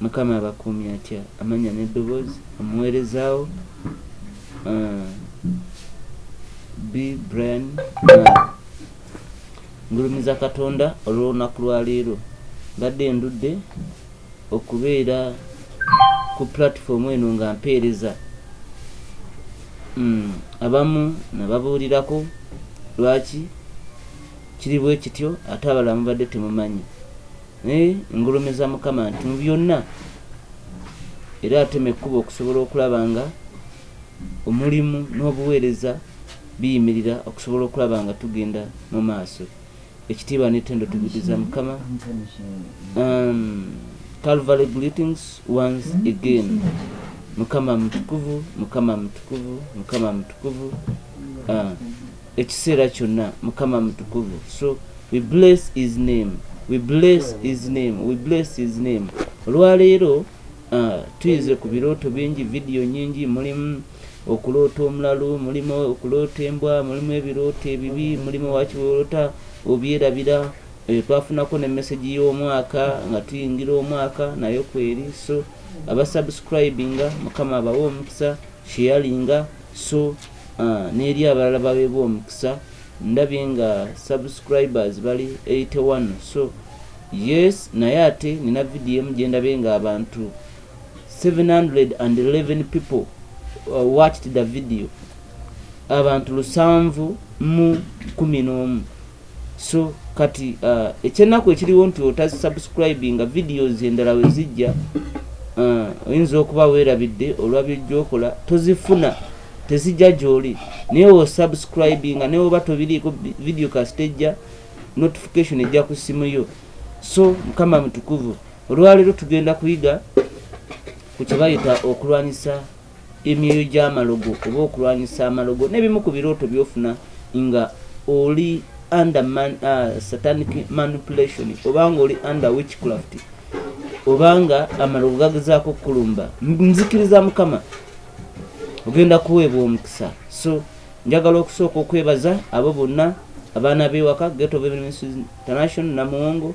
Mukama abakuumye atya amanya nedobozi omuwerezawo bi Brian ngulumiza katonda olwolunaku lwaleero mbadde ndudde okubeera ku platform eno nga mpeereza mm, abamu nababuulirako lwaki kiri bwe kityo ate abalamu badde temumanyi Naye ngulumiza Mukama nti mu byonna era atema ekkubo okusobola okulaba nga omulimu n'obuweereza biyimirira okusobola okulaba nga tugenda mu maaso ekitiibwa n'ettendo tubiddiza Mukama um, Calvary greetings once again Mukama mutukuvu Mukama mutukuvu Mukama mutukuvu uh, ekiseera kyonna mukama mutukuvu so we bless his name we bless his name we bless his name olwaleero uh, tuyize ku birooto bingi vidiyo nyingi mulimu okuloota omulalu mulimu okuloota embwa mulimu ebirooto ebibi mulimu wakiwolota obyerabira eh, twafunako ne mesagi y'omwaka nga tuyingira omwaka nayo kweri so abasubscribinga mukama abawe omukisa sheyalinga so Aah neri abalala bawebwe omukisa ndabye nga subscribers bali 81 so yes naye ate nina video emu gyendabye nga abantu 711 people uh, watched the video abantu lusanvu mu kumi n'omu so kati uh, ekyenaku ekiriwo nti otasubscribinga videos endala wezijja uh, oyinza okuba werabidde olwa byojjokola tozifuna tezijja gyoli naye osubscribinga naye oba tobiriiko video kastejja notification ejja ku simu yo so mukama mutukuvu olwaleero tugenda kuyiga ku kyebayita okulwanyisa emyoyo gyamalogo oba okulwanyisa amalogo nebimu ku birooto byofuna nga oli under man, uh, satanic manipulation obanga oli under witchcraft obanga amalogo gagezaako okukulumba nzikiriza mukama ogenda kuweebwa omukisa so njagala okusooka okwebaza abo bonna abaana bewaka geto international namuwongo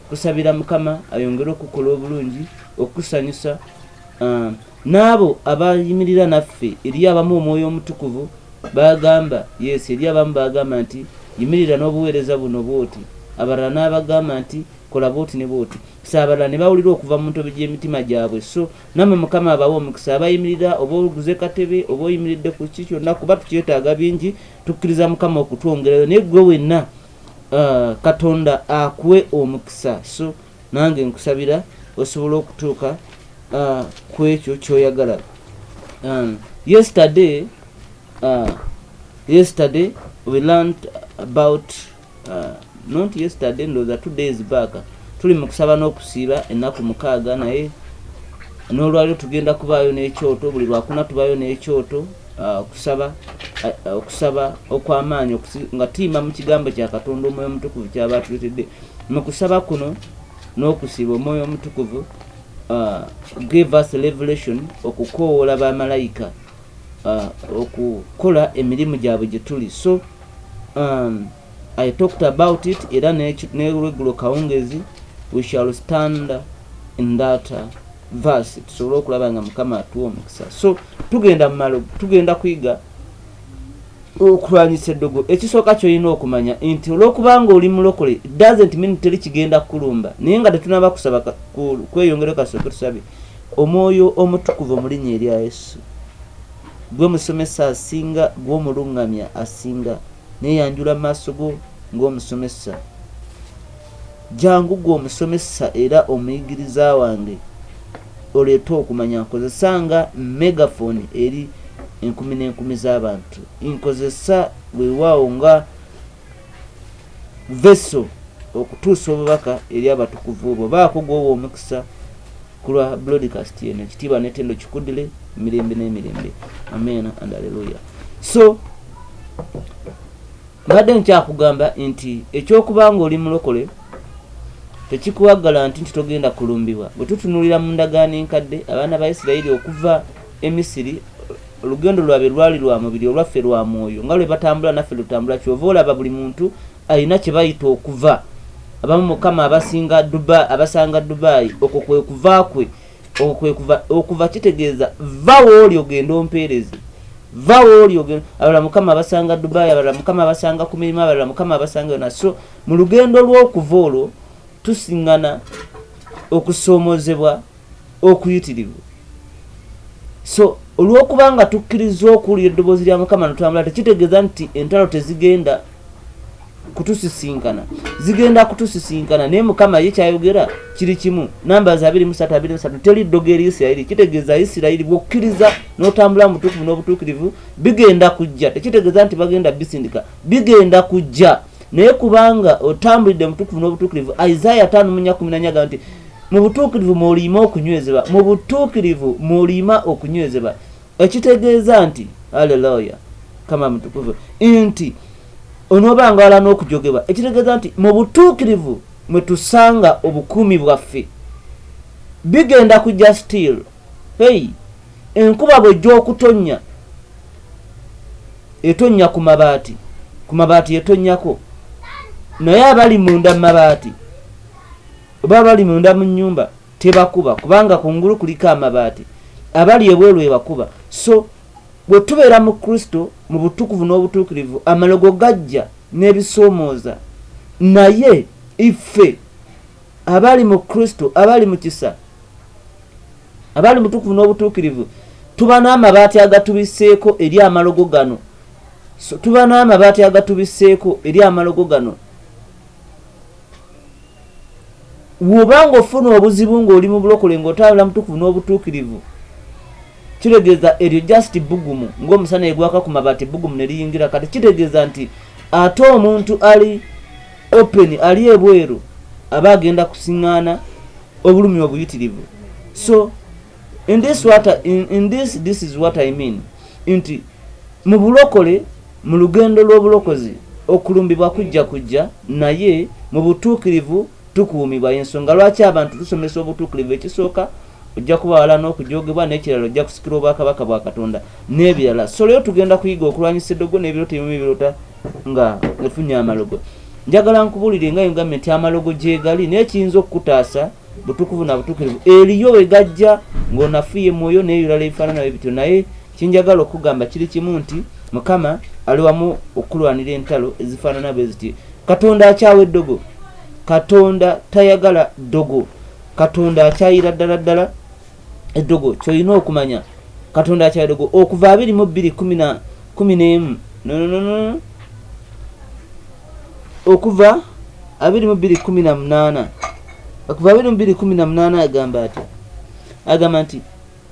Kusabira Mukama ayongere okukola obulungi okukusanyusa um, n'abo abayimirira naffe eri abamu omwoyo omutukuvu bagamba yes eri abamu bagamba nti yimirira n'obuweereza buno bwoti abalala n'abagamba nti kola bwoti ne bwoti so abalala ne bawulira okuva mu ntobe gy'emitima gyabwe so nammwe mukama abawa omukisa abayimirira oba oguze katebe oba oyimiridde ku ki kyonna kuba tukyetaaga bingi tukkiriza mukama okutwongerayo naye ggwe wenna Uh, katonda akuwe omukisa so nange nkusabira osobola okutuuka uh, ku ekyo kyoyagala um, yesterday uh, yesterday we learned about uh, not yesterday ndoza two days back tuli mu kusaba n'okusiiba ennaku mukaaga naye n'olwaliro tugenda kubaayo n'ekyoto buli lwakuna tubaayo n'ekyoto Ah, okusaba ah, ah, okusaba okw'amaanyi nga tuyima mu kigambo kya katonda omwoyo omutukuvu kyaba atuletedde mu kusaba kuno n'okusiba omwoyo omutukuvu give us revelation okukoowoola bamalayika okukola emirimu gyabwe gye tuli so um, i talked about it era nelwegulo kawungezi we shall stand in that uh, verse tusobole okulaba nga mukama atuwa omukisa so tugenda mumalogo tugenda kuyiga okulwanyisa eddogo ekisooka kyolina okumanya nti olwokubanga oli mulokole doesn't mean teri kigenda kukulumba naye nga tetunaba kusaba kweyongere kasooke tusabe omwoyo omutukuvu omulinya erya yesu gwe musomesa asinga gwomulungamya asinga neyanjula mu maaso go ngaomusomesa Jangu gwe omusomesa era omuyigiriza wange oleete okumanya nkozesa nga megaphone eri enkumi n'enkumi z'abantu. Nkozesa weewaawo nga vessel okutuusa obubaka eri abatukuvu bo. Baako gw'owa omukisa ku lwa broadcast eno. Ekitiibwa n'ettendo kikuddire mirembe n'emirembe. Amen and alleluia. So Mbadde nkyakugamba nti eky'okuba ng'oli mulokole tekikuwa galanti nti togenda kulumbibwa. Bwe tutunuulira mu ndagaano enkadde, abaana ba Isirayiri okuva e Misiri olugendo lwabwe lwali lwa mubiri olwaffe lwa mwoyo nga lwe batambula naffe lutambula kyova olaba buli muntu alina kye bayita okuva abamu mukama abasinga dubai abasanga dubai okwo kwe kuva kwe okwekuva okuva kitegeeza va wooli ogenda ompeereze va wooli ogenda abalala mukama abasanga dubai abalala mukama abasanga ku mirimu abalala mukama abasanga yona so mu lugendo lw'okuva olwo tusiŋŋana okusoomozebwa okuyitirirwa so olw'okuba nga tukkiriza okuwulira eddoboozi lya mukama notwambula tekitegeeza nti entalo tezigenda kutusisinkana zigenda kutusisinkana naye mukama ye kyayogera kiri kimu numbers abiri musatu abiri musatu teri ddogo eri isirayiri kitegeeza isirayiri bwokkiriza n'otambula mutukuvu n'obutuukirivu bigenda kujja tekitegeeza nti bagenda bisindika bigenda kujja naye kubanga otambulidde mutukuvu n'obutuukirivu isaaya tano munya kumi nanyaga nti mu butuukirivu mwoliima okunywezebwa mu butuukirivu mwoliima okunywezebwa ekitegeeza nti aleloya kama mutukuvu nti onoba nga wala n'okujogebwa ekitegeeza nti mu butuukirivu mwe tusanga obukuumi bwaffe bigenda kujja still hey enkuba bwejja okutonnya etonnya ku mabaati ku mabaati etonnyako naye abali munda mu mabaati oba abali munda mu nnyumba tebakuba kubanga kungulu kuliko amabaati abali ebweru ebakuba so bwe tubeera mu kristo mu butukuvu n'obutuukirivu amalogo gajja n'ebisoomooza naye iffe abali mu kristo abali mu kisa abali mutukuvu n'obutuukirivu tuba n'amabaati agatubiseeko eri amalogo gano so tuba n'amabaati agatubiseeko eri amalogo gano woba nga ofuna obuzibu ngaoli mu bulokole ngaotambula mutukuvu n'obutuukirivu kitegeeza eryo just bugumu ngaomusana egwaka ku mabaati bugumu ne liyingira kati kitegeeza nti ate omuntu ali open ali ebweru aba agenda kusiŋŋaana obulumi obuyitirivu so in this what in, in this this is what i mean nti mu bulokole mu lugendo lw'obulokozi okulumbibwa kujja kujja naye mu butuukirivu tukuumibwa yensonga lwaki abantu tusomesa obutuukirivu ekisooka ojja kuba wala n'okujogebwa n'ekirala ojja kusikira obwakabaka bwa katonda n'ebirala soleyo tugenda kuyiga okulwanyisa eddogo n'ebirota ebimu ebirota nga efunye amalogo njagala nkubuulire nga yogambye nti amalogo gyegali naye kiyinza okukutaasa butukuvu na butukirivu eriyo wegajja ng'onafuye mwoyo n'ebirala ebifaanana bwe bityo naye kinjagala okugamba kiri kimu nti mukama ali wamu okulwanira entalo ezifaanana bwe ziti katonda akyawa eddogo katonda tayagala ddogo katonda akyayira ddala ddala eddogo kyolina okumanya katonda akyayira ddogo okuva abiri mu bbiri kumi n'emu nononono okuva abiri mu bbiri kumi na munaana okuva abiri mu bbiri kumi na munaana agamba ati agamba nti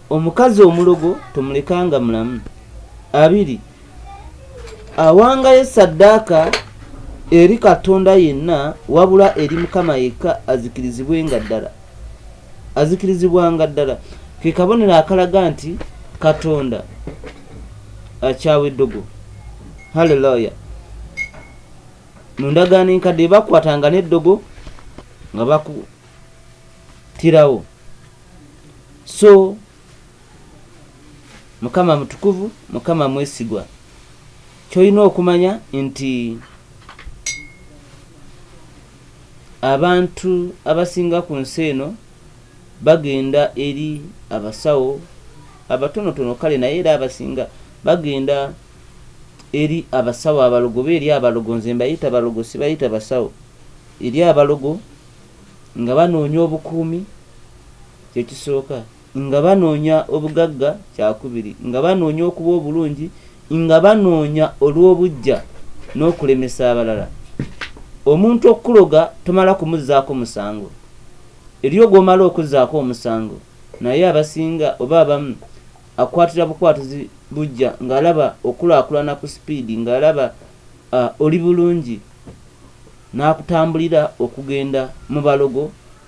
omukazi omulogo tomulekanga mulamu abiri awangayo saddaaka eri katonda yenna wabula eri mukama yekka azikirizibwe nga ddala azikirizibwanga ddala ke kabonero akalaga nti katonda akyawa eddogo haleluya mu ndagaano enkadde bakwatanga n'eddogo nga bakutirawo so mukama mutukuvu mukama mwesigwa kyolina okumanya nti Abantu abasinga ku nsi eno bagenda eri abasawo, abatonotono kale naye era abasinga bagenda eri abasawo abalogo oba eri abalogo, nze mbayita balogo sibayita basawo, eri abalogo nga banoonya obukuumi, kye kisooka. Nga banoonya obugagga, kyakubiri, nga banoonya okuba obulungi, nga banoonya olw'obuggya n'okulemesa abalala. Omuntu okukuloga tomala kumuzzaako musango. Eriyo gw'omala okuzzaako omusango naye abasinga oba abamu akwatira bukwatuzi buggya ng'alaba okulaakulana ku sipiidi, ng'alaba oli bulungi n'akutambulira okugenda mu balogo.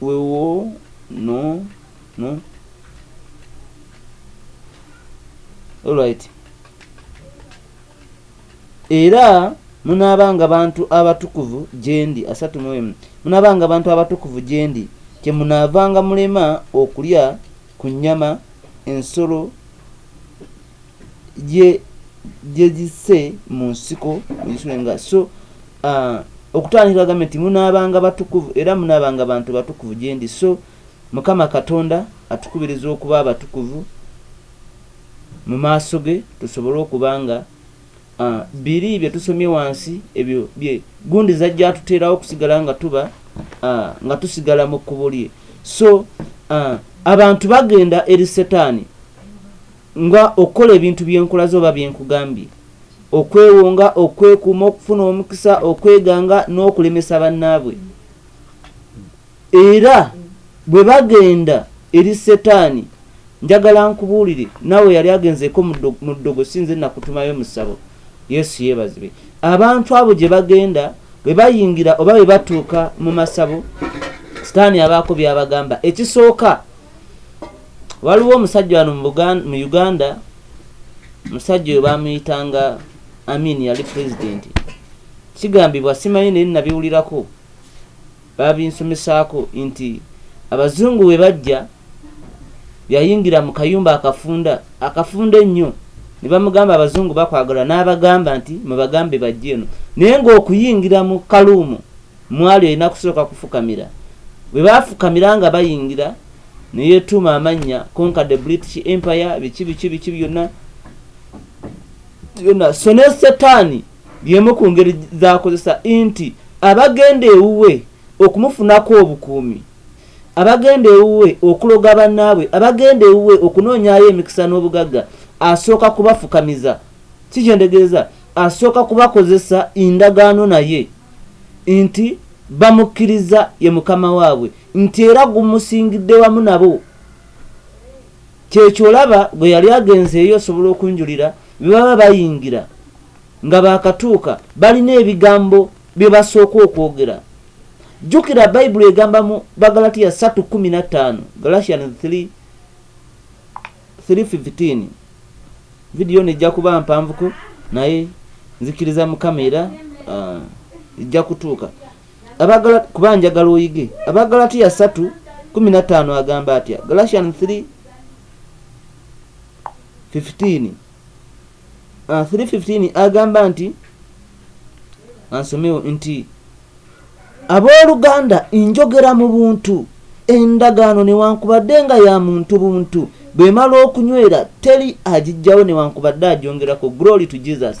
Wewo no no alright era munaabanga bantu abatukuvu gyendi asatu mu emu munaabanga bantu abatukuvu gyendi kyemunaavanga mulema okulya ku nnyama ensolo gye gye zisse mu nsiko nga so okutandikira agambye nti munaabanga batukuvu era munaabanga bantu batukuvu gye ndi so mukama katonda atukubiriza okuba abatukuvu mu maaso ge tusobole okuba nga A, biri bye tusomye wansi, ebyo bye gundi zajja atuteerawo okusigala nga tuba a, nga tusigala mu kkubo lye. So a, abantu bagenda eri setaani nga okukola ebintu byenkulaze oba byenkugambye, okwewonga, okwekuuma, okufuna omukisa, okweganga, n'okulemesa bannaabwe. Era bwe bagenda eri Setaani, njagala nkubuulire, naawe yali agenzeeko mu ddogo, si nze nakutumayo mu ssabo. Yesu yeebazibwe. Abantu abo gye bagenda, bwe bayingira oba bwe batuuka mu masabo, Setaani abaako by'abagamba. Ekisooka, waliwo omusajja wano mu Uganda, omusajja oyo baamuyitanga Amin, yali pulezidenti. Kigambibwa, simanyi naye nabiwulirako. Babinsomesaako nti Abazungu bwe bajja, yayingira mu kayumba akafunda, akafunda ennyo, ne bamugamba Abazungu bakwagala n'abagamba nti mubagambe bajje eno naye ng'okuyingira mu kaluumu mwali olina kusooka kufukamira. Bwe baafukamira nga bayingira ne yeetuuma amannya Conquer the British Empire biki biki biki byonna byonna so ne Setaani Y'emu ku ngeri z'akozesa nti abagenda ewuwe okumufunako obukuumi, abagenda ewuwe okuloga bannaabwe, abagenda ewuwe okunoonyaayo emikisa n'obugagga, asooka kubafukamiza. Ki kyendegeeza? Asooka kubakozesa ndagaano naye nti bamukkiriza ye mukama waabwe, nti era gumusingidde wamu nabo. Kyekyo olaba gwe yali agenzeeyo osobola okunjulira bye baba bayingira nga baakatuuka balina ebigambo bye basooka okwogera. Jjukira Bayibuli egamba mu Bagalatiya 3:15, Galatians 3:15. Vidiyo ono ejja kuba mpanvuko naye nzikiriza Mukama era ah, ejja kutuuka. abagala kuba njagala oyige abagalatiya satu kumi na ttaano agamba atya galatian 3 15 315 agamba nti ansomewo nti abooluganda njogera mu buntu endagaano newankubadde nga ya muntu buntu bwemala okunywera teri agijjawo newankubadde agyongerako glory to jesus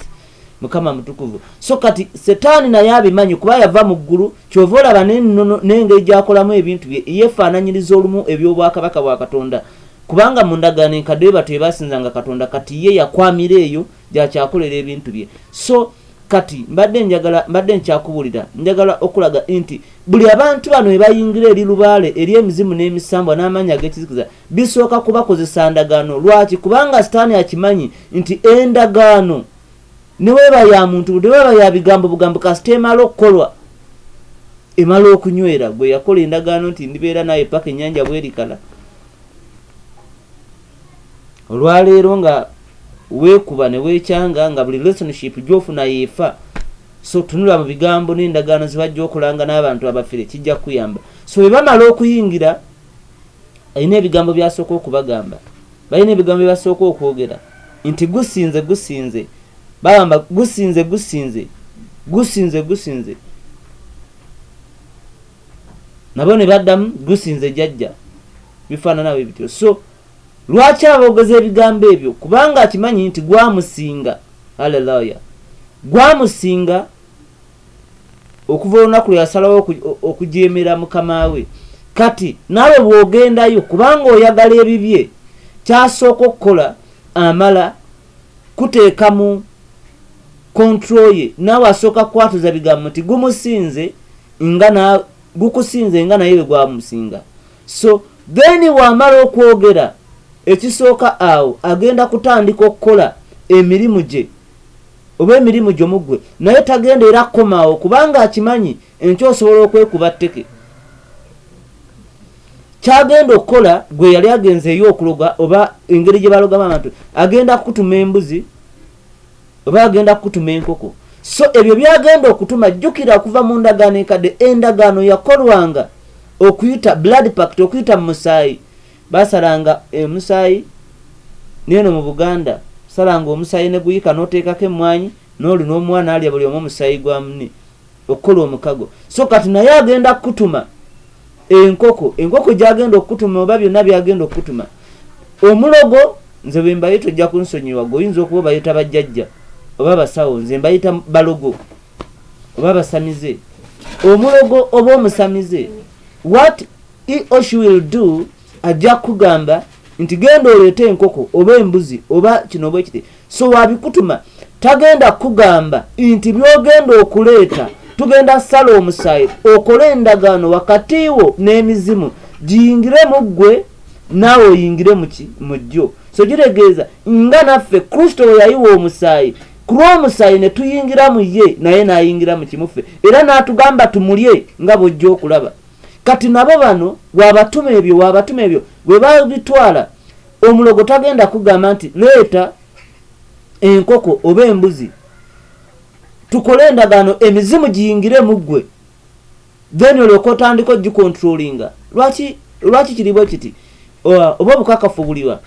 mukama mutukuvu so kati setaani naye abimanyi kuba yava mu ggulu kyova olaba nenono n'engeri gyakolamu ebintu bye yefaananyiriza olumu eby'obwakabaka bwa katonda kubanga mu ndagaano enkadde bebatu ebasinzanga katonda kati ye yakwamira eyo gyakyakolera ebintu bye so kati mbadde njagala mbadde nkyakubulira njagala okulaga nti buli abantu bano ebayingira eri lubaale eri emizimu n'emisambwa n'amaanyi ag'ekizikiza Bisooka kubakozesa ndagaano. Lwaki? Kubanga sitaani akimanyi nti endagaano ne weeba ya muntu, ne weeba ya bigambo bugambo, kasita emala okukolwa, emala okunywera. Gwe yakola endagaano nti ndibeera naawe paka ennyanja bwerikala. Olwaleero nga weekuba ne weekyanga nga buli relationship gy'ofuna yeefa. So tunula mu bigambo n'endagaano zibajja okulanga n'abantu abafere kijja kukuyamba. So bwe bamala okuyingira alina ebigambo byasooka okubagamba balina ebigambo byebasooka okwogera nti gusinze gusinze bagamba gusinze gusinze gusinze gusinze nabo ne baddamu gusinze jajja bifaanana bwe bityo so lwaki aboogeza ebigambo ebyo kubanga akimanyi nti gwamusinga alelaya gwamusinga okuva olunaku lwe yasalawo okujeemera mukama we kati naawe bw'ogendayo kubanga oyagala ebibye kyasooka okukola amala kuteeka mu kontro ye naawe asooka kukwatuza bigambo nti gumusinze nga gukusinze nga naye bwe gwamusinga so then wamala okwogera ekisooka awo agenda kutandika okukola emirimu gye oba emirimu gyo muggwe naye tagenda era kukomaawo kubanga akimanyi enkya osobola okwekuba tteke kyagenda okukola gwe yali agenze eyo okuloga oba engeri gye balogamu abantu agenda kukutuma embuzi oba agenda kukutuma enkoko so ebyo byagenda okutuma jjukira okuva mu ndagaano enkadde endagaano yakolwanga okuyita blood pact okuyita mu musaayi Basalanga emusaayi neeno mu Buganda salanga omusaayi neguyika noteekako emmwanyi noli nomwana alya buli omu omusaayi gwa mune okukola omukago so kati naye agenda kukutuma enkoko enkoko gyagenda okukutuma oba byonna byagenda okukutuma omulogo nze bwembayita ojja kunsonyiwa gwe oyinza okuba obayita bajjajja oba basawo nze mbayita balogo oba basamize omulogo oba omusamize wat eosh will do ajja kugamba nti genda oleeta enkoko oba embuzi oba kino oba ekiti so wabikutuma tagenda kugamba nti byogenda okuleeta tugenda sala omusaayi okole endagaano wakati wo n'emizimu giyingire mu ggwe naawe oyingire muki mu jjo so kitegeeza nga naffe kristo we yayiwa omusaayi ku lw'omusaayi ne tuyingira mu ye naye n'ayingira mu kimuffe era n'atugamba tumulye nga bwojja okulaba kati nabo bano wabatuma ebyo wabatuma ebyo webabitwala omulogo tagenda kugamba nti leeta enkoko oba embuzi tukole endagaano emizimu giyingire mu ggwe then olyoka otandika ogikontrolinga lwaki lwaki kiribwe kiti oba obukakafu buliwa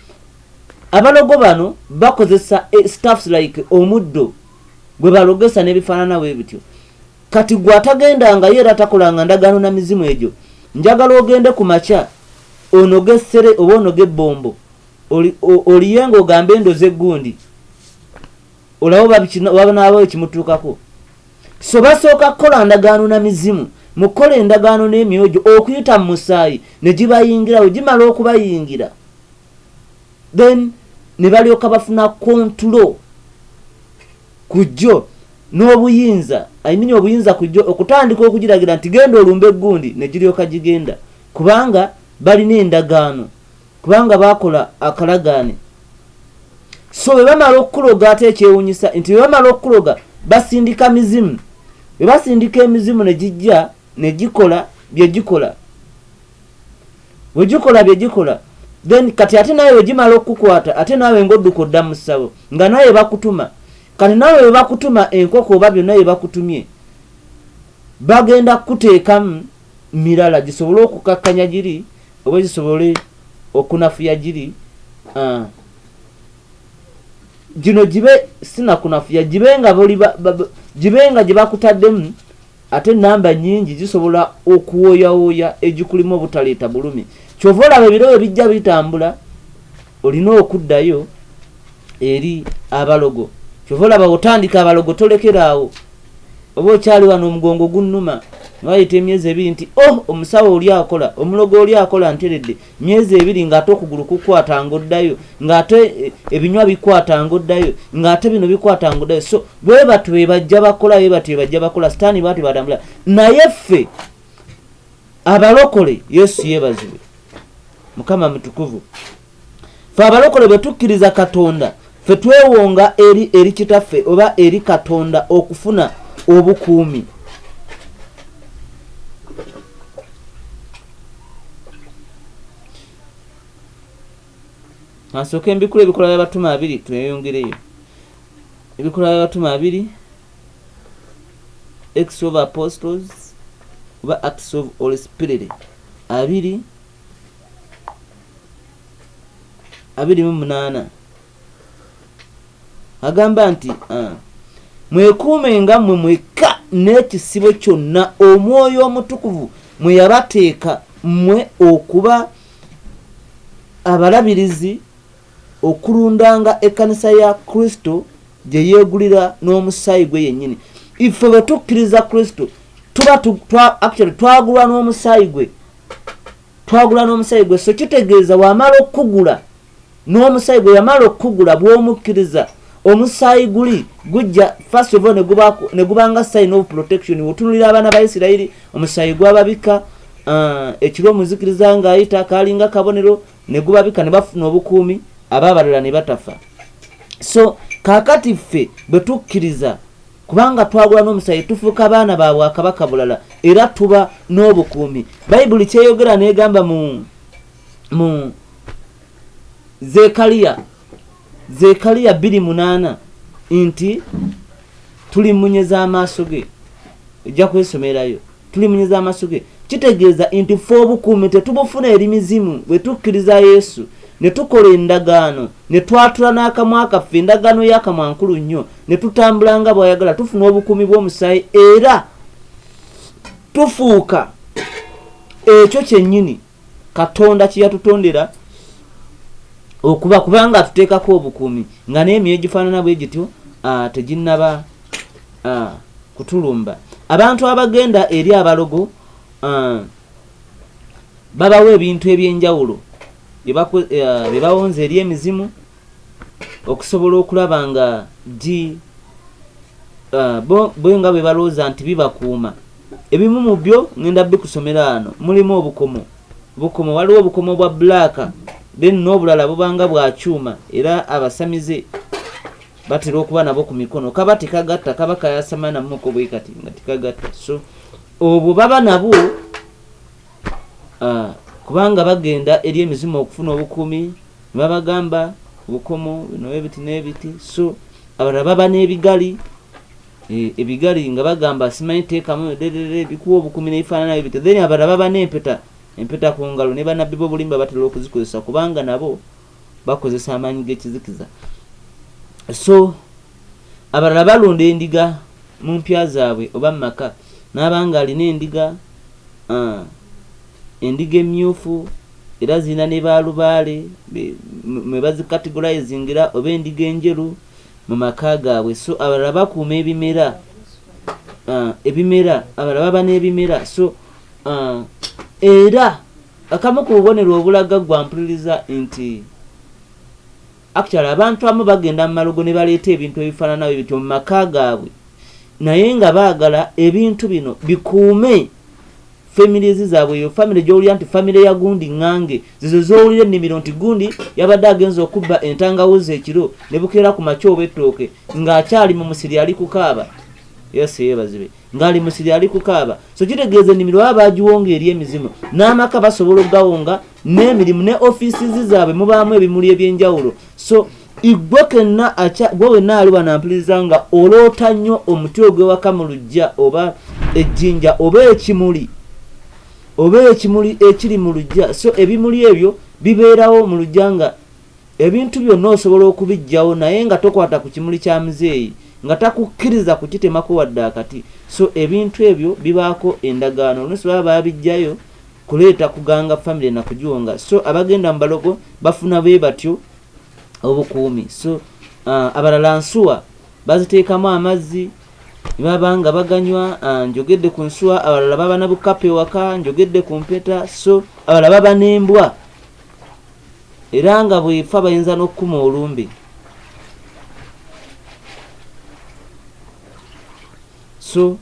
abalogo bano bakozesa eh, staffs like omuddo gwe balogesa nebifaananawo ebityo kati gwe atagendangayo era takolanga ndagaano na mizimu egyo njagala ogende ku makya onoge essere oba onoge ebbombo oliye nga ogambe endozi eggundi olaba babanaaba ekimutuukako so basooka kukola ndagaano na mizimu mu kukola endagaano n'emyoyo gyo okuyita mu musaayi ne gibayingirawo gimala okubayingira then ne balyoka bafuna kontulo ku jjo n'obuyinza ayimini obuyinza ku jjo okutandika okugiragira nti genda olumba eggundi ne giryoka gigenda kubanga balina endagaano kubanga baakola akalagaane so bwe bamala okukuloga ate ekyewunyisa nti bwe bamala okukuloga basindika mizimu bwe basindika emizimu ne gijja ne gikola bye gikola wegikola byegikola then kati ate nawe wegimala okukukwata ate nawe ngaodduka odda mu ssabo nga nawe bakutuma kati nawe webakutuma enkoko oba byonna byebakutumye bagenda kukuteekamu mirala gisobole okukakkanya giri oba zisobole okunafuya giri ah. gino gibe sinakunafuya gibe nga gibe nga gye bakutaddemu Ate ennamba nnyingi zisobola okuwooyawooya egikulimu obutaleeta bulumi. Kyova olaba ebiro bwe bijja bitambula, olina okuddayo eri abalogo. Kyova olaba otandika abalogo tolekera awo. Oba okyali wano omugongo gunnuma, ne wayita emyezi ebiri nti, oh, omusawo oli akola, omulogo oli akola, nteredde. myezi ebiri ng'ate okugulu kukwata ng'oddayo ng'ate eh, ebinywa bikwata ng'oddayo ng'ate bino bikwata ng'oddayo so bwe batyo be bajja bakola be batyo be bajja bakola sitaani batyo batambula naye ffe abalokole yesu yeebazibwe mukama mutukuvu fe abalokole bwe tukkiriza katonda fe twewonga eri eri kitaffe oba eri katonda okufuna obukuumi asooka embikula ebikola by'abatume abiri tweyongereyo ebikola by'abatume abiri acts of apostles oba acts of holy spirit abiri abiri mu munaana agamba nti uh, mwekuume nga mwe mwekka n'ekisibo kyonna omwoyo omutukuvu mwe yabateeka mmwe okuba abalabirizi okulundanga ekkanisa ya kristo gye yeegulira n'omusaayi gwe yennyini ife bwe tukkiriza kristo tuba actually twagulwa n'omusaayi gwe twagula n'omusaayi gwe so kitegeeza wamala okukugula n'omusaayi gwe yamala okukugula bw'omukkiriza omusaayi guli gujja first of all ne gubanga sign of protection wotunulira abaana ba isirayiri omusaayi gwababika uh, ekiro omuzikiriza ng'ayita kalinga kabonero ne gubabika ne bafuna obukuumi abaabalala ne batafa so kakati ffe bwe tukkiriza kubanga twagula n'omusaayi tufuuka baana ba bwakabaka bulala era tuba n'obukuumi bayibuli kyeyogera negamba mu mu zekaliya zekaliya biri munaana nti tuli munye z'amaaso ge ojja kwesomerayo Tulimunye za masuke kitegeeza nti ffe obukuumi tetubufuna eri mizimu bwe tukkiriza Yesu ne tukola endagaano ne twatula n'akamwa kaffe endagaano y'akamwa nkulu nnyo ne tutambula nga bw'ayagala tufuna obukuumi bw'omusaayi era tufuuka ekyo kyennyini katonda kyeyatutondera okuba kubanga atuteekako obukuumi nga n'emyoyo gifaanana bwe gityo ah, teginnaba ah, kutulumba abantu abagenda eri abalogo ah, babawo ebintu ebyenjawulo byebawonza eri emizimu okusobola okulaba nga gi bo nga bwe balowooza nti bibakuuma Ebimu mu byo ngenda bikusomera ano. Mulimu obukomo, bukomo waliwo obukomo bwa black then n'obulala bubanga bwa kyuma era abasamize batera okuba nabo ku mikono kaba tekagatta kaba kayasama namuko bwe kati nga tekagatta so obwo baba nabwo ah, kubanga bagenda eri emizimu okufuna obukuumi ne babagamba obukomo bino ebiti n'ebiti so abalala baba n'ebigali Eh, ebigali nga bagamba simanyi teekamu derere bikuwa obukumi nebifaanana byo bityo then abalala baba n'empeta empeta ku ngalo ne banabbi bobulimba batera okuzikozesa kubanga nabo bakozesa amaanyi g'ekizikiza so abalala balunda endiga mu mpya zaabwe oba mu maka n'abanga alina endiga ah, endiga emmyufu era zirina ne baalubaale mwe bazikatigulayizingira oba endiga enjeru mu maka gaabwe so abalala bakuuma ebimera uh, ebimera abalala baba n'ebimera so uh, era akamu ku bubonero obulaga gwampuliriza nti actually abantu amu bagenda mu malogo ne baleeta ebintu ebifaananawe bityo mu maka gaabwe naye nga baagala ebintu bino bikuume families zaabwe eyo family gyowulira nti family ya gundi ngange zizo zowulira ennimiro nti gundi yabadde agenza okubba entangawuzi ekiro ne bukeera ku makya oba ettooke ng'akyali mu musiri ali kukaaba yose yebazibe ng'ali musiri ali kukaaba so kitegeeza ennimiro baba bagiwonga eri emizimu n'amaka basobola okugawonga n'emirimu ne offices zaabwe mubaamu ebimuli eby'enjawulo so igwe kenna aca gwe wenna aluba nampuliriza nga oloota nnyo omuti ogwewaka mu lujja oba ejjinja oba ekimuli oba ekimuli ekiri mu lujja so ebimuli ebyo bibeerawo mu lujja nga ebintu byonna osobola okubijjawo naye nga tokwata ku kimuli kya muzeeyi nga takukkiriza kukitemako wadde akati so ebintu ebyo bibaako endagaano oluusi baba baabijjayo kuleeta kuganga famire nakugiwonga so abagenda mu balogo bafuna bwe batyo obukuumi so uh, abalala nsuwa baziteekamu amazzi baba nga baganywa uh, njogedde ku nsuwa abalala baba na bukapu ewaka njogedde ku mpeta so abalala baba n'embwa era nga bwefa bayinza n'okukuma olumbe so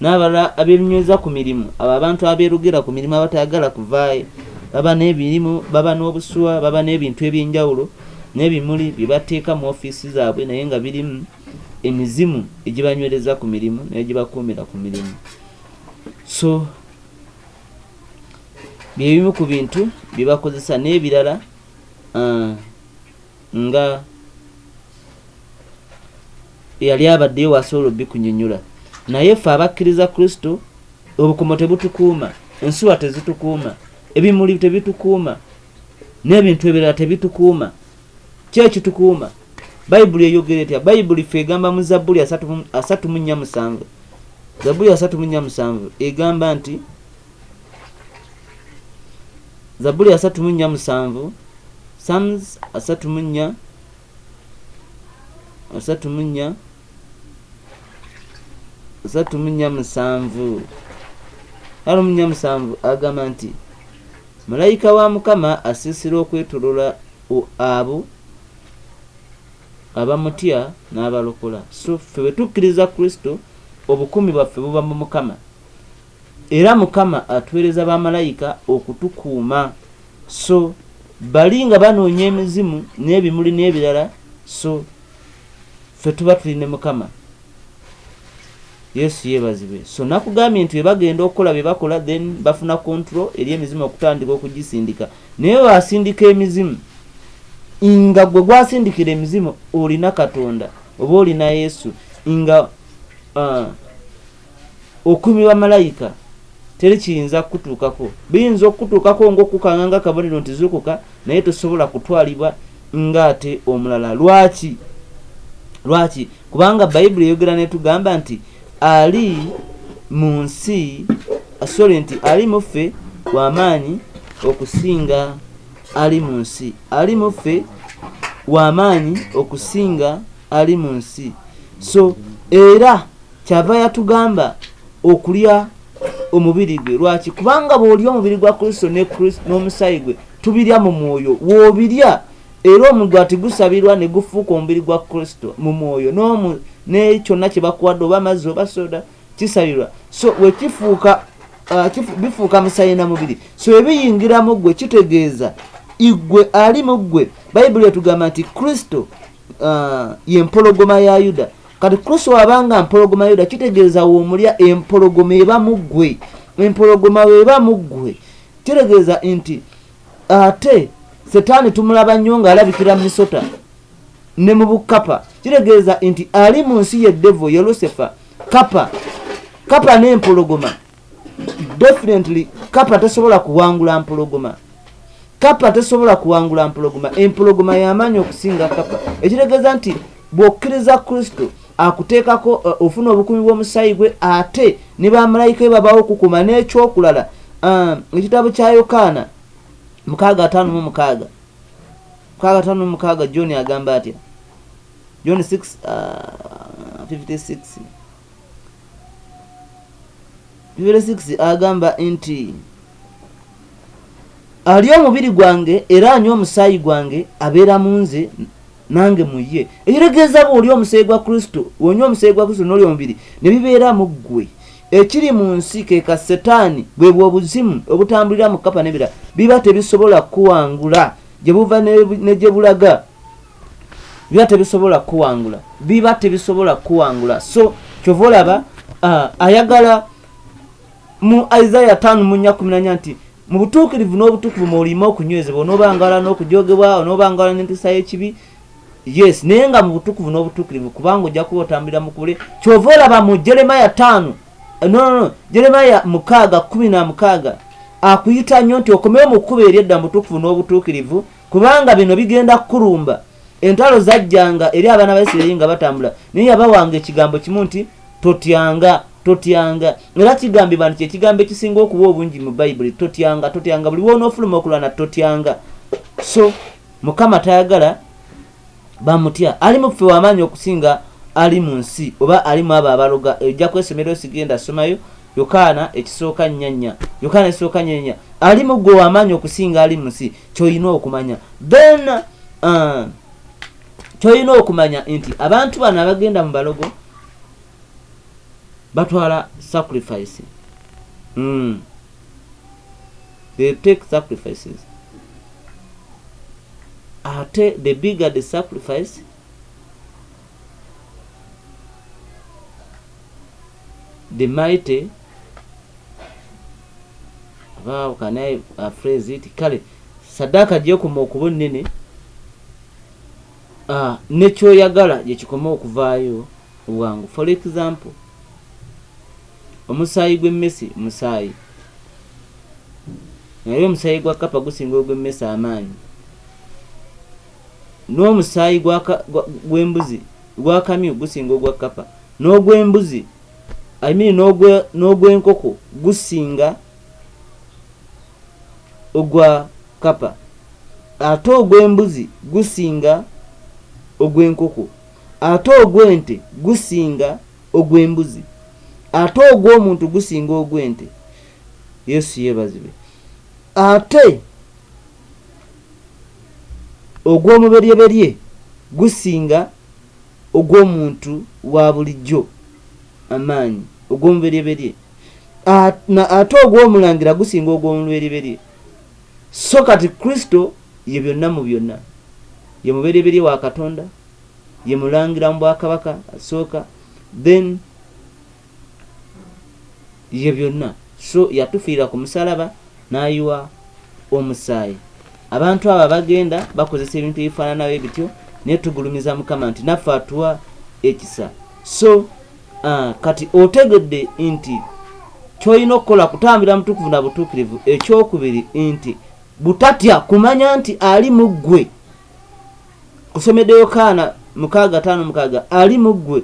N'abalala abeebinyweza ku mirimu, abo abantu abeerugira ku mirimu abatayagala kuvaayo, baba n'ebirimu, baba n'obusuwa, baba n'ebintu eby'enjawulo n'ebimuli bye bateeka mu ofiisi zaabwe naye nga birimu emizimu egibanywereza ku mirimu n'egibakuumira ku mirimu. So bye bimu ku bintu bye bakozesa n'ebirala uh, nga eyali abaddeyo wasobola obikunyonyola naye ffe abakkiriza kristo obukomo tebutukuuma ensuwa tezitukuuma ebimuli tebitukuuma n'ebintu ebirala tebitukuuma ki ekitukuuma bayibuli eyogere etya bayibuli fe egamba mu zabbuli asatu mu nnya musanvu zabbuli asatu mu nnya musanvu egamba nti zabuli asatu mu nnya musanvu sams asatu mu nnya asatu mu nnya asatu mu nnya musanvu alo mu nnya musanvu agamba nti malayika wa mukama asiisira okwetolola o- abo abamutya n'abalokola so ffe bwe tukkiriza kristo obukuumi bwaffe buba mu mukama Era Mukama atuweereza ba Malayika okutukuuma, so bali nga banoonya emizimu n'ebimuli n'ebirala, so ffe tuba tuli ne Mukama. Yesu yeebazibwe. So nakugambye nti webagenda okukola byebakola then bafuna control eri emizimu okutandika okugisindika. Naye wasindika emizimu nga gwe gwasindikira emizimu olina Katonda oba olina Yesu nga uh, okuumibwa malayika teri kiyinza kukutuukako biyinza okukutuukako ngaokukanga nga kabonero nti zuukuka naye tosobola kutwalibwa ngaate omulala lwaki lwaki kubanga bayibuli eyogera netugamba nti ali mu nsi sorry nti ali muffe wamaanyi okusinga ali mu nsi ali muffe wamaanyi okusinga ali mu nsi so era kyava yatugamba okulya omubiri gwe lwaki kubanga bwolya omubiri gwa kristo ne kristo n'omusaayi gwe tubirya mu mwoyo wobirya era omugati gusabirwa ne gufuuka omubiri gwa kristo mu mwoyo n'omu ne kyonna kye bakuwadde oba amazzi oba soda kisabirwa so wekifuuka uh, bifuuka musaayi na mubiri so ebiyingiramu ggwe kitegeeza igwe ali mu ggwe bayibuli etugamba nti kristo uh, ye mpologoma ya yuda kati kristo wabanga mpologoma yuda kitegeeza womulya empologoma eba muggwe empologoma weba muggwe kitegeeza nti ate setaani tumulaba nnyo ng'alabikira mu misota ne mu bukapa kitegeeza nti ali mu nsi ye devo ye lusifa kapa kapa n'empologoma definitely kapa tesobola kuwangula mpologoma kapa tesobola kuwangula mpologoma empologoma yamaanyi okusinga kapa ekitegeeza nti bwokkiriza kristo akuteekako uh, ofuna obukumi bw'omusaayi gwe ate ne bamalayika e babawo okukuma n'ekyokulala uh, ekitabo kya yokaana mukaaga ataano mu mukaaga mukaaga ataano mu mukaaga john agamba atya john 6 uh, 56 bibiri 6 agamba nti ali omubiri gwange era anywa omusaayi gwange abeera mu nze nange mu ye ekiregeeza bw'oli omusaayi gwa kristo wonywa omusaayi gwa kristo n'oli omubiri ne bibeera mu ggwe ekiri mu nsi ke ka setaani bwe bw'obuzimu obutambulira mu kapa n'ebirala biba tebisobola kukuwangula gye buva ne gye bulaga biba tebisobola kukuwangula biba tebisobola kukuwangula so kyova olaba uh, ayagala mu isaia tano munya kuminanya nti mu butuukirivu n'obutukuvu mwolima okunywezebwa onoobangala n'okujogebwa onoobangala n'empisa y'ekibi yes naye nga mu butukuvu n'obutuukirivu kubanga ojja kuba otambulira mukubule kyova olaba mu jeremaya tano eh, nonono jeremaya mukaaga kumi na mukaaga akuyita nnyo nti okomewo mu kkuba eryedda mu butukuvu n'obutuukirivu kubanga bino bigenda kukulumba entalo zajjanga eri abaana ba isirairi nga batambula naye yabawanga ekigambo kimu nti totyanga totyanga era kigambibwa nti kyekigambo ekisinga okuba obungi mu bayibuli totyanga totyanga buli wonoofuluma okulwana totyanga so mukama tayagala bamutya ali muffe wamaanyi okusinga ali mu nsi oba ali mu abo abaloga ojja kwesomero sigenda somayo yokaana ekisooka nyanya yokaana ekisooka nyanya ali mu gwe wamaanyi okusinga ali mu nsi kyolina okumanya then uh, kyolina okumanya nti abantu bano abagenda mu balogo batwala sacrifice mm. they take sacrifices ate the bigger the sacrifice the mighty how can i uh, phrase it kale sadaka gyekoma okuba ennene uh, nekyoyagala gyekikoma okuvaayo obwangu for example Omusaayi gw'emmese musaayi. Naye omusaayi gwa kkapa gusinga ogw'emmese amaanyi. N'omusaayi gw'embuzi gw'akamyu gusinga ogwa kkapa. N'ogw'embuzi amini n'ogw'enkoko gusinga ogwa kkapa. Ate ogw'embuzi gusinga ogw'enkoko. Ate ogw'ente gusinga ogw'embuzi ate ogw'omuntu gusinga ogw'ente yesu yebazibwe ate ogw'omuberyeberye gusinga ogw'omuntu wa bulijjo amaanyi ogw'omuberyeberye ate ogw'omulangira gusinga ogw'omuberyeberye so kati kristo ye byonna mu byonna ye muberyeberye wa katonda ye mulangira mu bwakabaka asooka then ye byonna so yatufiirira ku musalaba n'ayiwa omusaayi abantu abo abagenda bakozesa ebintu ebifaananawo ebityo naye tugulumiza mukama nti naffe atuwa ekisa so uh, kati otegedde nti kyolina okukola kutambira mutukuvu na butuukirivu ekyokubiri nti butatya kumanya nti ali mu ggwe kusomedde yokaana mukaaga taano mukaaga ali mu ggwe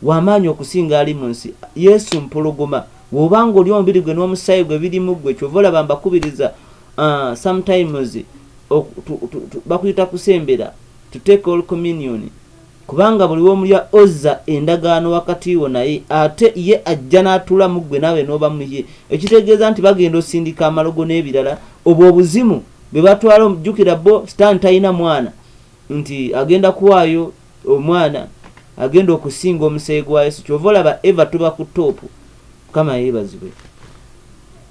w'amaanyi okusinga ali mu nsi yesu mpologoma woba nga oli omubiri gwe n'omusaayi gwe biri mu ggwe kyova olaba mbakubiriza uh, sometimes bakuyita kusembera to take all communion kubanga buli womulya ozza endagaano wakati wo naye ate ye ajja n'atula mu ggwe naawe n'oba muye ekitegeeza nti bagenda osindika amalogo n'ebirala obwo obuzimu bebatwala omujukira bo stan talina mwana nti agenda kuwaayo omwana agenda okusinga omusayi gwa yesu kyova olaba eva tuba ku topu mukama yebazibwe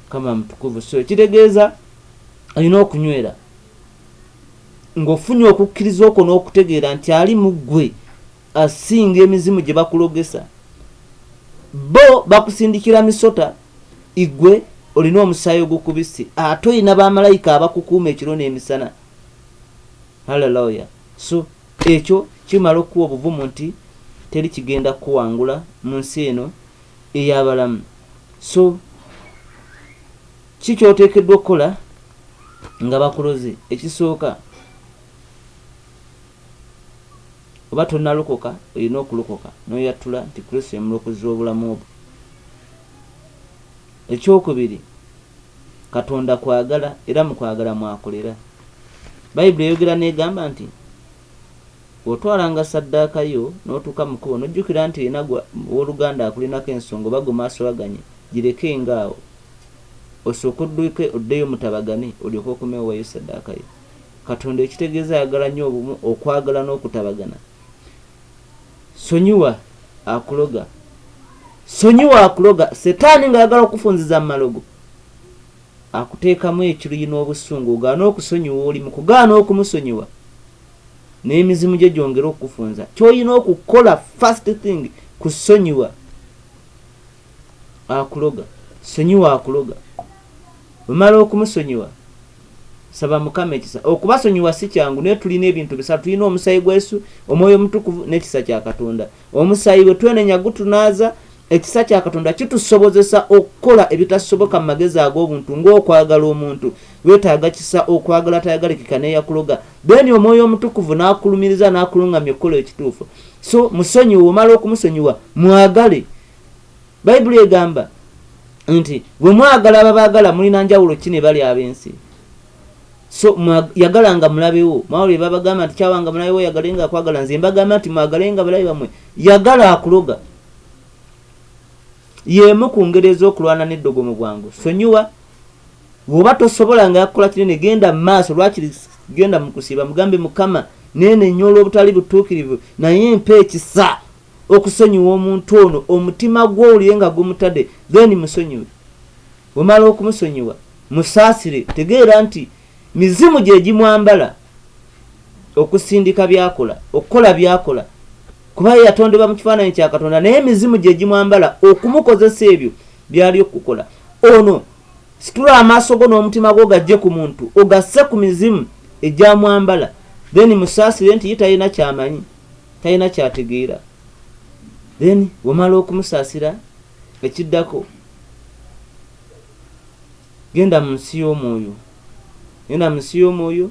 mukama mutukuvu so ekitegeeza alina okunywera ngaofunye okukkiriza okwo n'okutegeera nti ali mu ggwe asinga emizimu gye bakulogesa bo bakusindikira misota igwe olina omusaayi ogukubisi ate olina bamalayika abakukuuma ekiro n'emisana haleluya so ekyo kimala okukuwa obuvumu nti teri kigenda kukuwangula mu nsi eno ey'abalamu so ki kyoteekeddwa okukola nga bakuloze ekisooka oba tonalokoka olina okulokoka noyattula nti kristo yemulokozi w'obulamu obwo Eky'okubiri, Katonda kwagala era mu kwagala mw'akolera. Bayibuli eyogera n'egamba nti, Bw'otwalanga ssaddaaka yo n'otuuka mu kkubo n'ojjukira nti olina w'oluganda akulinako ensonga oba gwe mwasowaganye, girekenga awo. Osooke odduke oddeyo mutabagane olyoke okomewo oweeyo ssaddaaka yo. Katonda ekitegeeza ayagala nnyo obumu, okwagala n'okutabagana. sonyiwa akuloga sonyiwa akuloga setaani ng'ayagala okufunziza mu malogo akuteekamu ekiruyi n'obusungu ogaana okusonyiwa oli mu kugaana okumusonyiwa n'emizimu gye gyongere okukufunza ky'olina okukola first thing kusonyiwa akuloga sonyiwa akuloga omala okumusonyiwa saba mukama ekisa okubasonyiwa si kyangu naye tulina ebintu bisatu tulina omusayi gwesu omwoyo omutukuvu n'ekisa kya katonda omusayi we twenenya gutunaaza ekisa kya katonda kitusobozesa okukola ebitasoboka mu magezi ag'obuntu ng'okwagala omuntu wetaaga kisa okwagala tayagalekeka neyakuloga then omwoyo omutukuvu nakulumiriza nakulungamya okukola ekituufu so musonyiwe omala okumusonyiwa mwagale bayibuli egamba nti bwe mwagala ababaagala mulina njawulo ki ne bali ab'ensi so yagala nga mulabewo mwawulire babagamba nti kyawanga mulabewo yagale nga akwagala nze mbagamba nti mwagale nga balabe bamwe yagala akuloga Y'emu ku ngeri ez'okulwana n'eddogo mu bwangu. Sonyiwa. Bw'oba tosobola nga yakukola kinene, genda mu maaso. Lwakiri genda mu kusiiba, mugambe, Mukama, neenenya olw'obutali butuukirivu, naye mpa ekisa okusonyiwa omuntu ono, omutima gwo owulire nga gumutadde, then musonyiwe. Bw'omala okumusonyiwa, musaasire. Tegeera nti mizimu gye gimwambala. okusindika byakola okukola byakola kuba ye yatondebwa mu kifaananyi kya katonda naye emizimu gye gimwambala okumukozesa ebyo byali okukola ono situla amaaso go n'omutima gwo gajje ku muntu ogasse ku mizimu egyamwambala then musaasire nti ye talina kyamanyi talina kyategeera then wamala okumusaasira ekiddako Genda mu nsi y'omwoyo. Genda mu nsi y'omwoyo.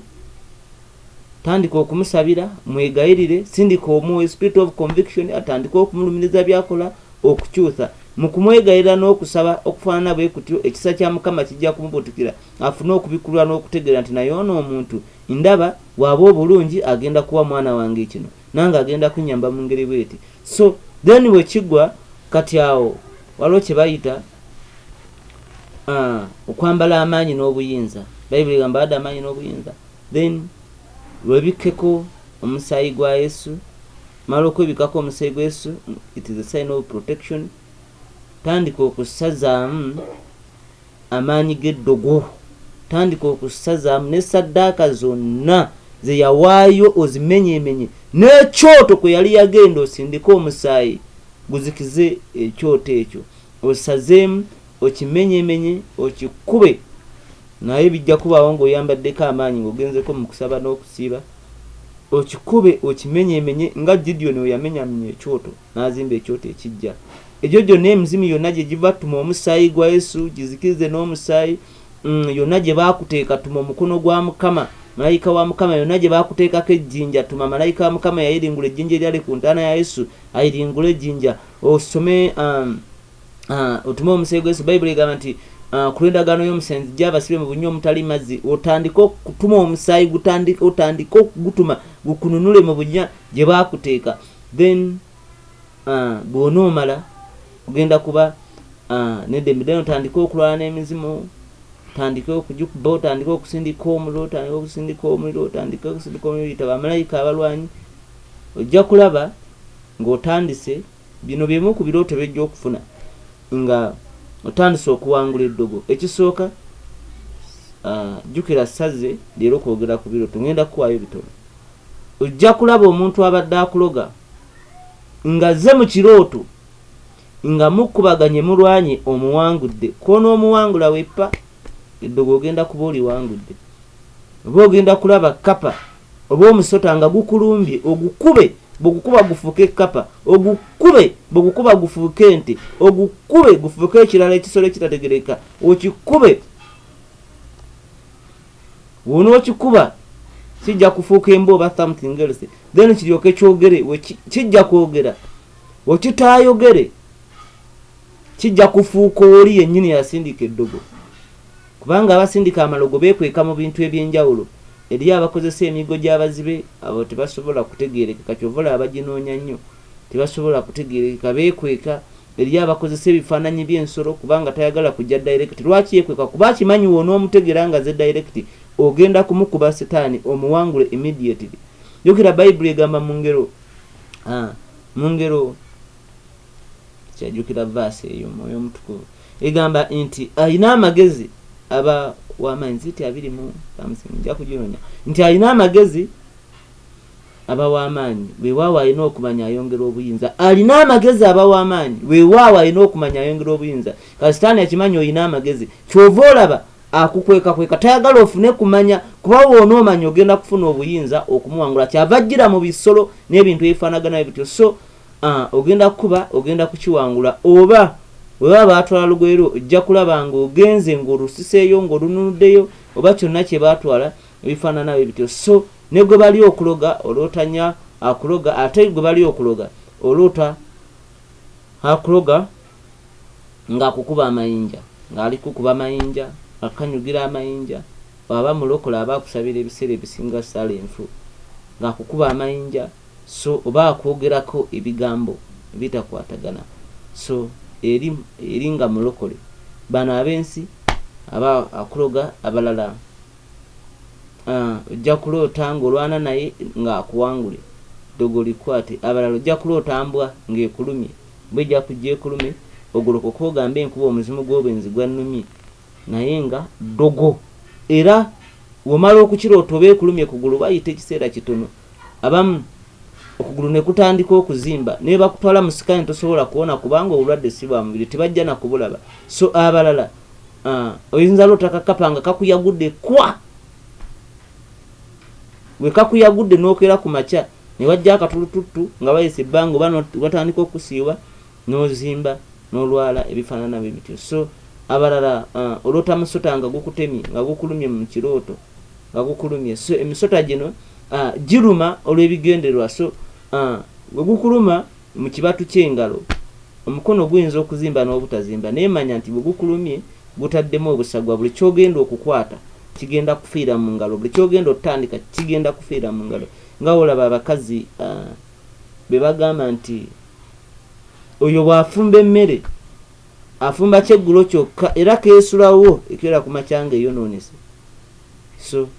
Tandika okumusabira, mwegayirire, sindika omwoyo, spirit of conviction, atandike okumulumiriza byakola, okukyusa. Mu kumwegayirira n'okusaba okufaanana bwe kutyo, ekisa kya Mukama kijja kumubutukira, afune okubikulwa n'okutegeera nti naye ono omuntu, ndaba, bw'aba obulungi agenda kuwa mwana wange kino, nange agenda kunyamba mu ngeri bw'eti. So, then bwe kigwa, kati awo waliwo kye bayita Ah, okwambala amaanyi n'obuyinza bayibuli egamba bada amaanyi n'obuyinza then webikkeko omusaayi gwa yesu mala okwebikako omusaayi gwa yesu it is a sign of protection tandika okusazaamu amaanyi g'eddogo tandika okusazaamu ne saddaaka zonna zeyawaayo ozimenyemenye n'ekyoto kwe yali yagenda osindike omusaayi guzikize ekyoto ekyo Osazeemu okimenyemenye okikube naye bijja kubaawo ng'oyambaddeko amaanyi ng'ogenzeko mu kusaba n'okusiiba. Okikube okimenyemenye nga Gideoni we yamenyamenya ekyoto n'azimba ekyoto ekiggya. Egyo gyonna emizimu yonna gye giva tuma omusaayi gwa Yesu gizikirize n'omusaayi mm, yonna gye baakuteeka tuma omukono gwa Mukama malayika wa mukama yonna gye baakuteekako ejjinja tuma malayika wa mukama yayiringula ejjinja eryali ku ntaana ya yesu ayiringule ejjinja osome um, uh, otume omusayi gwesu bayibuli egamba nti uh, ku lw'endagaano y'omusenzi gya abasibe mu bunnya omutali mazzi otandike okutuma omusaayi otandike okugutuma gukununule mu bunnya gye baakuteeka then uh, bw'onoomala ogenda kuba nedembe then otandike okulwala n'emizimu otandike okujukuba otandike okusindika omuliro otandike okusindika omuliro otandike okusindika omuliro yita bamalayika abalwanyi ojja kulaba Nga otandise, bino bye bimu ku birooto by'ojja okufuna nga otandise okuwangula eddogo. Ekisooka, jjukira sazze leero kwogera ku birooto, ngenda kukuwaayo bitono. Ojja kulaba omuntu abadde akuloga nga azze mu kirooto nga mukubaganye mulwanye omuwangudde kwonoomuwangula weppa eddogo ogenda kuba oliwangudde oba ogenda kulaba kkapa. oba omusota nga gukulumbye ogukube bwegukuba gufuuke ekkapa ogukube bwegukuba gufuuke ente ogukube gufuuke ekirala ekisolo ekitategereka okikube wonookikuba kijja kufuuka emba oba something else then kiryoke kyogere kijja kwogera wekitaayogere kijja kufuuka oli yennyini yasindika eddogo Kubanga abasindika amalogo beekweka mu bintu eby'enjawulo. Eriyo abakozesa emiggo gy'abazibe, abo tebasobola kutegeerekeka ky'ova olaba baginoonya nnyo. Tebasobola kutegeerekeka, beekweka. Eriyo abakozesa ebifaananyi by'ensolo kubanga tayagala kujja direct. Lwaki yeekweka? Kuba akimanyi w'onoomutegeera ng'azze direct, ogenda kumukuba setaani omuwangule immediately. Jjukira Bayibuli egamba mu ngero, mu ngero, kyajukira verse eyo mwoyo omutukuvu egamba nti alina amagezi aba wamaanyi ziti abiri mu something nja kugironya nti alina amagezi aba wamaanyi wewaawo alina okumanya ayongera obuyinza alina amagezi aba wamaanyi wewaawo alina okumanya ayongera obuyinza kasitaani akimanyi olina amagezi kyova olaba akukwekakweka tayagala ofune kumanya kuba woona omanya ogenda kufuna obuyinza okumuwangula kyava jjira mu bisolo n'ebintu ebifaanagana ebityo so Ah, ogenda kukuba, ogenda kukiwangula. Oba, bwe baba baatwala lugoye lwo, ojja kulaba nga ogenze, nga olusiseeyo, nga olununuddeyo, oba kyonna kye baatwala, ebifaanana bwe bityo. So, ne gwe bali okuloga, oloota nya akuloga, ate gwe bali okuloga, oloota akuloga nga akukuba amayinja, nga ali kukuba amayinja, akanyugira amayinja, bw'aba mulokole aba akusabira ebiseera ebisinga sala enfu, nga akukuba amayinja. So oba akwogerako ebigambo ebitakwatagana so eri eri nga mulokole bano abensi aba akuloga abalala uh, ojja kuloota ng'olwana naye ng'akuwangule ddogo likwate abalala ojja kuloota mbwa ng'ekulumye mbwa ejja kujja ekulume ogolokoka ogambe enkuba omuzimu gw'obwenzi gwannumye naye nga ddogo era womala okukiroota oba ekulumye kugulu bayita ekiseera kitono abamu okugulu ne kutandika okuzimba ne bakutwala mu sikaani tosobola kuwona kubanga obulwadde si bwa mubiri tebajja na kubulaba so abalala ah, oyinza loota kakapa nga kakuyagudde kwa bwe kakuyagudde n'okeera ku makya ne wajja akatulututtu nga bayisa ebbanga oba watandika okusiiwa n'ozimba n'olwala ebifaanana bwe bityo so abalala ah, oloota musota nga gukutemye nga gukulumye mu kirooto nga gukulumye so emisota gino uh, giruma olw'ebigendererwa so uh, bwe gukuluma mu kibatu ky'engalo omukono guyinza okuzimba n'obutazimba naye manya nti bwe gukulumye gutaddemu obusagwa buli kyogenda okukwata kigenda kufiira mu ngalo buli kyogenda otandika kigenda kufiira mu ngalo nga olaba abakazi uh, be bagamba nti oyo bw'afumba emmere afumba kyeggulo kyokka era keesulawo ekiwera ku makya ng'eyonoonese so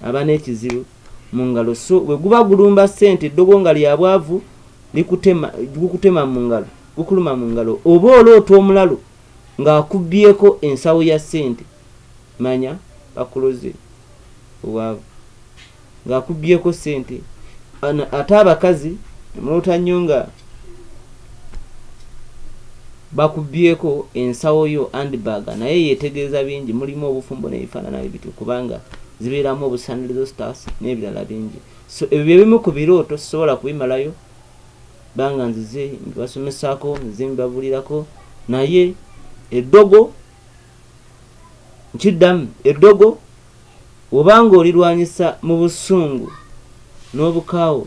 aba n'ekizibu mu ngalo so bwe guba gulumba ssente eddogo nga lya bwavu gukutema mu ngalo gukuluma mu ngalo oba oloota omulalu ng'akubbyeko ensawo ya ssente manya bakuloze obwavu nga akubyeko sente ate abakazi mulota nnyo nga bakubyeko ensawo yo andbag naye yetegeeza bingi mulimu obufumbo nebifaanana bitu kubanga zibeeramu obusanirizo stars n'ebirala bingi so ebyo byebimu ku birooto sisobola kubimalayo banga nzize mbibasomesaako nzize mbibabulirako naye eddogo nkiddamu eddogo oba ng'olirwanyisa mu busungu n'obukaawo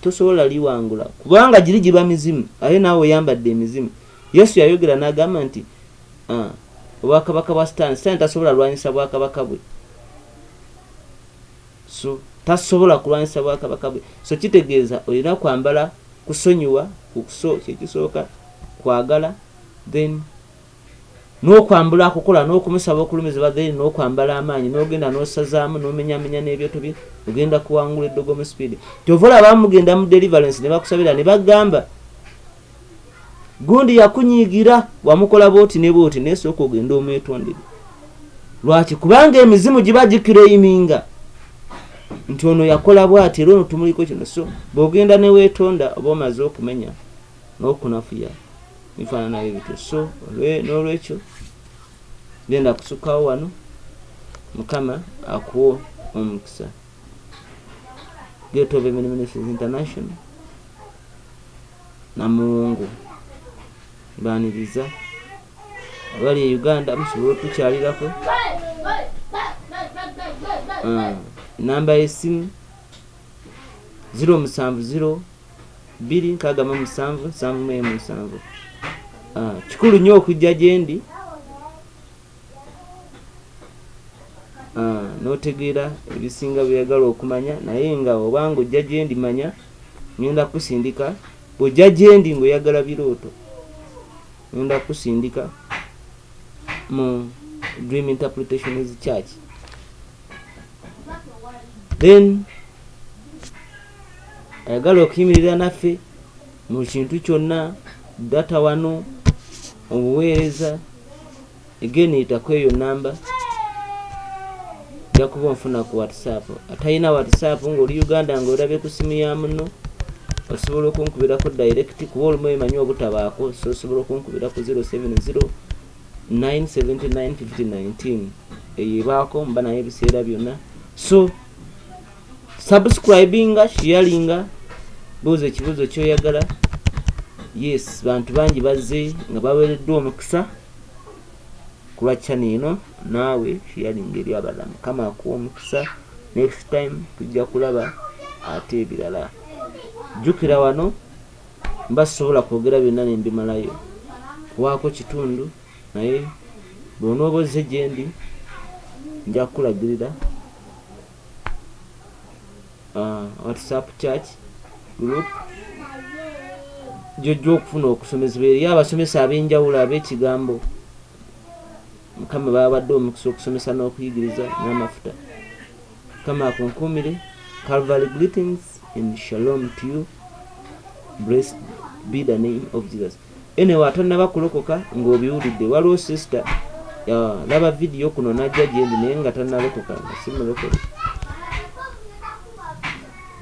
tosobola liwangula kubanga giri giba mizimu aye naawe oyambadde emizimu yesu yayogera n'agamba nti ah, obwakabaka bwa sitaani sitaani tasobola lwanyisa bwakabaka bwe so tasobola kulwanyisa bwakabaka bwe so kitegeeza olina kwambala kusonyiwa kukuso kyekisooka kwagala then N'okwambula akukola n'okumusaba okulumizibwa then n'okwambala amaanyi n'ogenda n'osazaamu n'omenyamenya n'ebyoto bye ogenda kuwangula eddogo mu speed. Kyova olaba abamu mugenda mu deliverance ne bakusabira ne bagamba gundi yakunyiigira wamukola bwoti ne bwoti naye sooka ogende omwetondere. Lwaki? Kubanga emizimu giba giclaiminga nti ono yakola bwati era ono tumuliko kino so bw'ogenda ne weetonda oba omaze okumenya n'okunafuya bifaananayo bityo so n'olwekyo genda kusukawo wano mukama akuwa omukisa getove ministries international namuwungu baniriza abali e uganda musobola otukyalirako ah, namba yesimu 070 0 bbiri nkaaga mu musanvu nsanvu mu emu nsanvu ah, kikulu nnyo okujja gye ndi ah, n'otegeera ebisinga byeyagala okumanya naye nga obanga ojja gye ndi manya ŋenda kusindika bw'ojja gye ndi ng'oyagala birooto ŋenda kusindika mu dream interpretations church then ayagala okuyimirira naffe mu kintu kyonna data wano obuweereza egeniyita ku eyo namba ojja kuba onfuna ku whatsapp atalina whatsapp ngaoli uganda nga olabye ku simu ya muno osobola okunkubirako direct kuba olumu emanyi obutabaako so osobola okunkubira ku 070 979 eyo ebaako mba naye ebiseera byonna so subscribinga sharinga buuza ekibuuzo kyoyagala yes bantu bangi bazze nga bawereddwa omukisa kulwa chana eno naawe sharinga eri abalala mukama akuwa omukisa next time tujja kulaba ate ebirala jjukira wano mba sobola kwogera byonna nembimalayo kuwaako kitundu Naye bw'onooba ozze gye ndi, nja kukulagirira uh, whatsapp church group gyojja okufuna okusomezebwa eri abasomesa ab'enjawulo ab'ekigambo mukama baabadde omukisa okusomesa n'okuyigiriza n'amafuta mukama akunkuumire calvary greetings and shalom to you blessed be the name of jesus Anyway atanaba kulokoka nga obiwulidde waliwo sister laba video kuno najja gyendi naye nga tanalokoka nga simulokole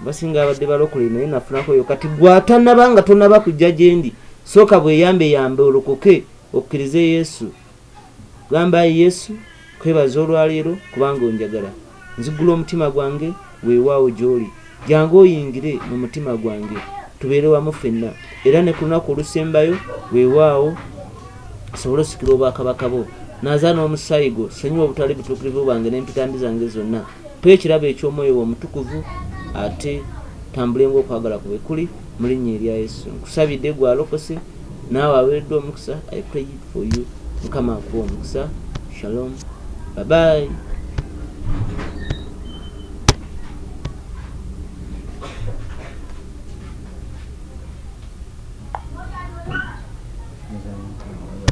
basinga abadde balokole naye nafunako yo kati gwatanaba nga tonaba kujja gyendi sooka bweyambe yambe olokoke okkirize yesu Gamba, Ayi Yesu, nkwebaza olwa leero kubanga onjagala. Nzigula omutima gwange, weewaawo, gy'Oli. Jangu oyingire mu mutima gwange, tubeere wamu ffenna. Era ne ku lunaku olusembayo, weewaawo, nsobole osikira Obwakabaka Bwo. Nnaaza n'Omusaayi Gwo, ssanyiwa obutali butuukirivu bwange n'empita mbi zange zonna. Mpa ekirabo eky'Omwoyo Wo Omutukuvu, ate ntambule ng'okwagala Kwo bwe kuli. Mu Linnya erya Yesu nkusabidde. Gwe alokose. Naawe awereddwa omukisa I pray for you mukama akuwe omukisa shalom bye bye.